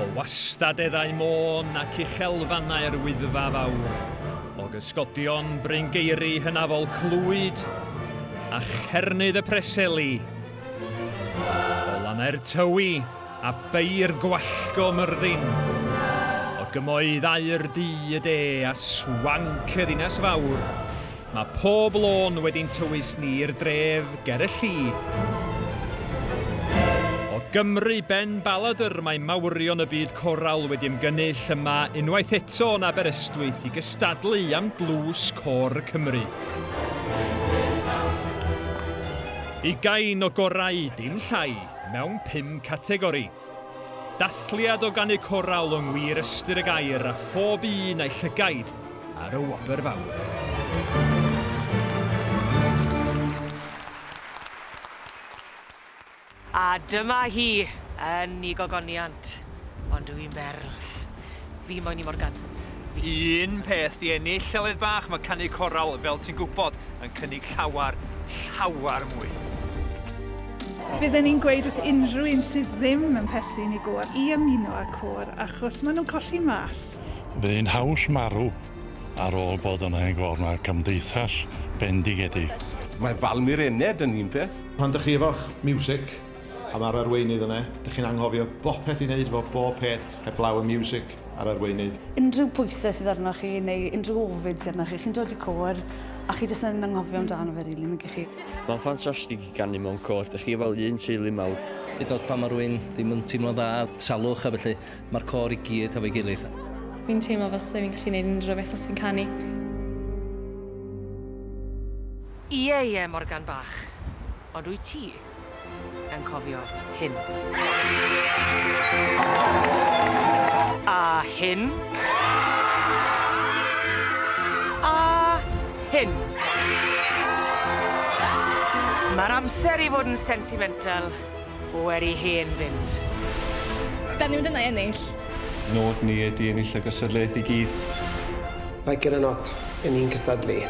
O wastadeddau môn ac uchelfannau'r Wyddfa Fawr, o gysgodion bryngeiri hynafol Clwyd a Chernydd y Preseli, o lannau'r Tywi a beirdd gwallgo Myrddin, o gymoeddau'r du, y de, a swanc y ddinas fawr, Mae pob lôn wedi'n tywys ni i'r dref ger y lli. O Gymru, Ben Baladr, mae mawrion y byd coral wedi ymgynnull yma unwaith eto yn Aberystwyth i gystadlu am dlws Côr Cymru. Ugain o gorau, dim llai, mewn pum categori. Dathliad o ganu corawl yng ngwir ystyr y gair a phob un a'i llygaid ar y wobr fawr. A dyma hi, yn 'i gogoniant, ond dw i'n berl. Fi moyn i Morgan. Fi. Un peth di ennill, Llyled Bach, mae canu coral, fel ti'n gwybod, yn cynnig llawer, llawer mwy. Bydden i'n gweud wrth unrhyw un sydd ddim yn perthyn i gôr i ymuno â côr achos maen nhw'n colli mas. Bydd hi'n haws marw ar ôl bod yn hen gôr, mae cymdeithas bendigedig. Mae Valmir Ened yn un peth. Pan dych chi efo'ch miwsig, Pan mae'r arweinydd yna, dych chi'n anghofio bopeth i wneud efo bob peth heblaw y miwsig a'r arweinydd. Unrhyw bwysau sydd arnoch chi neu unrhyw ofid sydd arnoch chi, chi'n dod i côr a chi jyst yn anghofio amdano fe rili, nag 'ych chi? Mae'n ffantastig i ganu mewn côr, dych chi fel un teulu mawr. Hyd yn oed pan mae rhywun ddim yn teimlo'n dda, salwch a felly, mae'r côr i gyd hefo'i gilydd. Fi'n teimlo fel 'se fi'n gallu neud unrhyw beth os fi'n canu. Ie, ie, Morgan bach. Ond wyt ti? Anghofio hyn. A hyn. A hyn. Mae'r amser i fod yn sentimental wedi hen fynd. Da ni'n mynd yna i ennill. Nod ni ydi ennill y gystadleuaeth i gyd. Like it or not, 'yn ni'n cystadlu.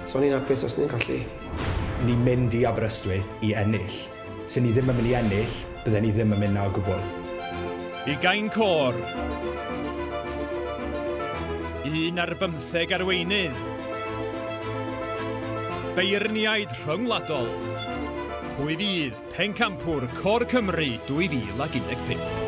So o'n i'n apus os ni'n colli. Ni'n mynd i Aberystwyth i ennill. Se ni ddim yn mynd i ennill, bydden ni ddim yn mynd 'na o gwbl. Ugain côr. Un ar bymtheg arweinydd. Beirniaid rhyngwladol. Pwy fydd pencampwr Côr Cymru 2015?